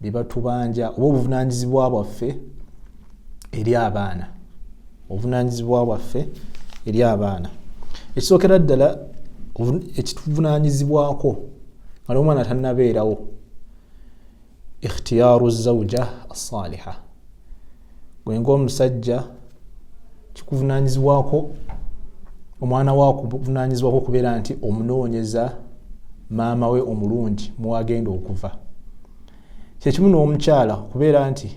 bye batubanja oba obuvunaanyizibwa bwaffe eri abaana obuvunaanyizibwa bwaffe eri abaana ekisookera ddala ekituvunaanyizibwako ali omwana tannabeerawo ikhtiyaaru zauja asaliha gwe ngaomusajja kikuvunanyizibwako omwana wa kuvunanyizibwako okubeera nti omunoonyeza maama we omulungi muwagenda okuva kyekimu n'omukyala okubeera nti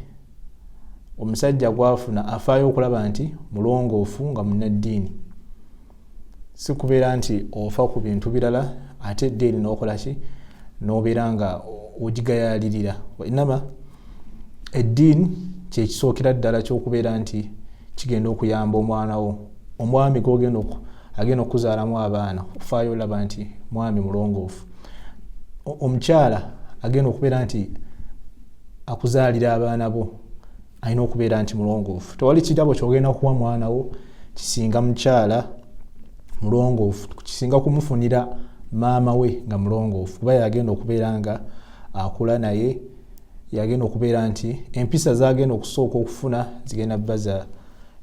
omusajja gwafuna afaayo okulaba nti mulongoofu nga munaddiini si kubeera nti ofa ku bintu birala ate eddiini n'okola ki n'obeera nga ogigayaalirira wainama eddiini kyekisookera ddala ky'okubeera nti kigenda okuyamba omwana wo omwami gogenda agenda okukuzaalamu abaana ofaayo olaba nti mwami mulongoofu omukyala agenda okubeera nti akuzaalira abaana bo alina okubeera nti mulongoofu tewali kirabo kyogenda kuwa mwana wo kisinga mukyala mulongoofu kisinga kumufunira maama we nga mulongoofu kuba yagenda okubeera nga akula naye yagenda okubeera nti empisa zagenda okusooka okufuna zigenda baza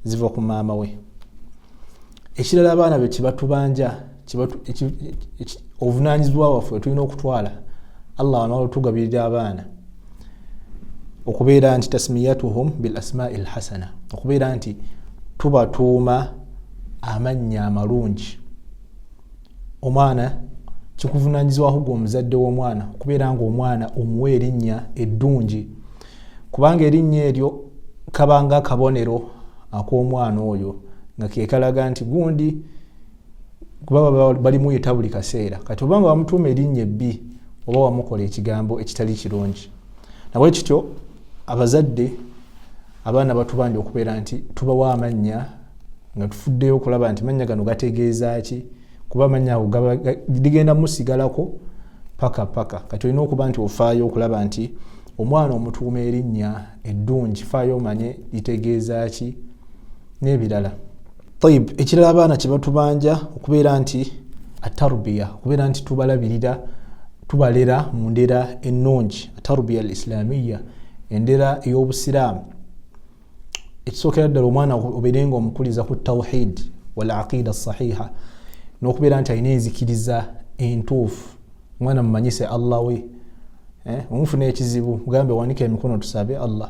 ziva ku maama we ekirala abaana be kyebatubanja obuvunanyizibwa waffe wetulina okutwala allah anatugabirira abaana okubeera nti tasmiyatuhum bil asmai lhasana okubeera nti tubatuuma amannya amalungi omwana kikuvunanyizibwako gwe omuzadde w'omwana okubeera nga omwana omuwa erinnya eddungi kubanga erinnya eryo kabanga akabonero ak'omwana oyo nga kekalaga nti gundi kubaba balimuyita buli kaseera kati obanga wamutuuma erinnya ebbi oba wamukola ekigambo ekitali kirungi nabwe kityo abazadde abaana batubanja okubeera nti tubawa amannya nga tufuddeyo okulaba nti mannya gano gategeeza ki kuba amannya ago ligenda musigalako paka paka kati olina okuba nti ofaayo okulaba nti omwana omutuuma erinnya eddungi faayo omanye litegeeza ki n'ebirala tayib ekirala abaana kyebatubanja okubeera nti atarubiya okubeera nti tubalabirira tubalera mu ndera ennungi atarubiya al islamiya endera ey'obusiraamu ekisookera ddala omwana obeere nga omukuliza ku tawhid wal aqida sahiha n'okubeera nti alina enzikiriza entuufu omwana mumanyise allah we eh, omufuna ekizibu mugambe wanika emikono tusabe allah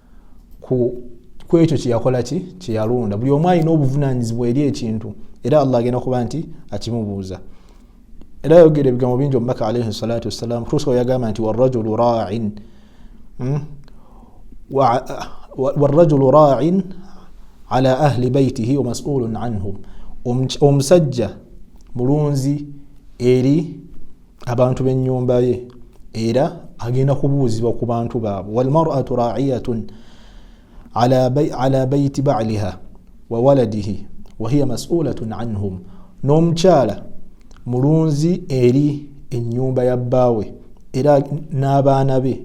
ku kwekyo kyeyakola ki kyeyalonda buli omu alina obuvunanyizibwa eri ekintu era allah agenda kuba nti akimubuuza era yogera ebigambo bingi omubaka alaihi salatu wassalam tusa yagamba nti warajulu rain hmm? warajulu rain ala ahli baitihi wamasulun anhum omusajja mulunzi eri abantu b'ennyumba ye era agenda kubuuzibwa ku bantu baabwe walmaratu raiyatun ala baiti baliha wa waladihi wahiya masulatun anhum n'omukyala mulunzi eri ennyumba ya bbaawe era n'abaana be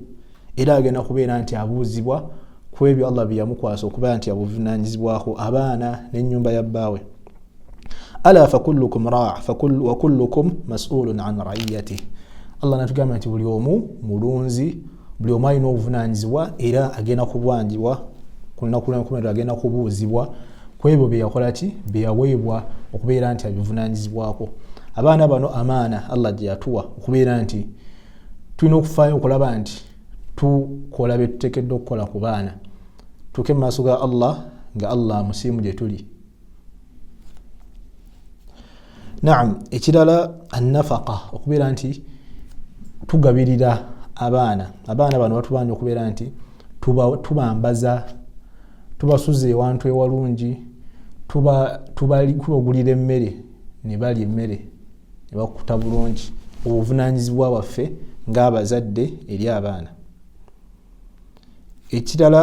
era agenda kubeera nti abuuzibwa ku ebyo allah byeyamukwasa okubeera nti abuvunanyizibwako abaana n'ennyumba ya bbaawe ala fakullukum raa wakullukum masulun an raiyatih allah natugamba nti buli omu mulunzi buli omu alina obuvunanyizibwa era agenda kubwanjibwa kunakulankumerero agenda kubuuzibwa kwebyo byeyakola ki byeyaweebwa okubeera nti abivunanyizibwako abaana bano amaana allah gyeyatuwa okubeera nti tulina okufaayo okulaba nti tukola byetutekedde okukola ku baana tuke mu maaso ga allah nga allah musiimu gyetuli naam ekirala annafaka okubeera nti tugabirira abaana abaana bano batubanja okubeera nti tubambaza tubasuza ewantu ewalungi tubagulira emmere nebalya emmere nebakuta bulungi obuvunanyizibwa bwaffe ngaabazadde eri abaana ekirala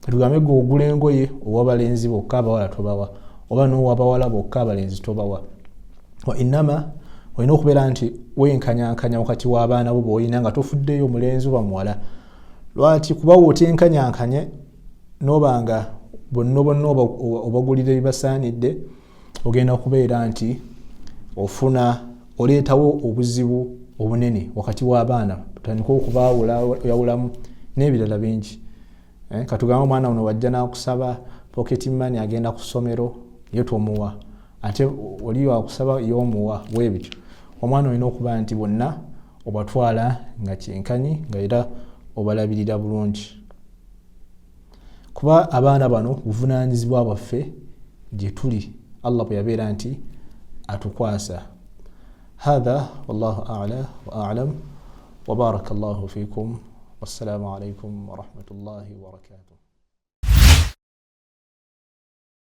tugambe gwe ogula engoye owa balenzi bokka abawala tobawa oba nowa bawala bokka abalenzi tobawa wainama olina okubeera nti wenkanyankanya wakati w'abaana bo boolina nga tofuddeyo omulenzi oba muwala lwaki kuba wotenkanyankanye noba nga bonna bonna obagulira ebibasaanidde oba ogenda kubeera nti ofuna oleetawo obuzibu obunene wakati w'abaana tandika okubayawulamu n'ebirala bingi eh, katugambe omwana uno wajja n'akusaba pocket money agenda ku ssomero yo tomuwa ate oli wakusaba yomuwa bwebityo omwana olina okuba nti bonna obatwala nga kyenkanyi nga era obalabirira bulungi kuba abaana bano buvunaanyizibwa bwaffe gye tuli allah bwe yabeera nti atukwasa hatha wallahu ala wa alam wabaraka llahu fikum wassalamu alaikum warahmatullahi wabarakatuh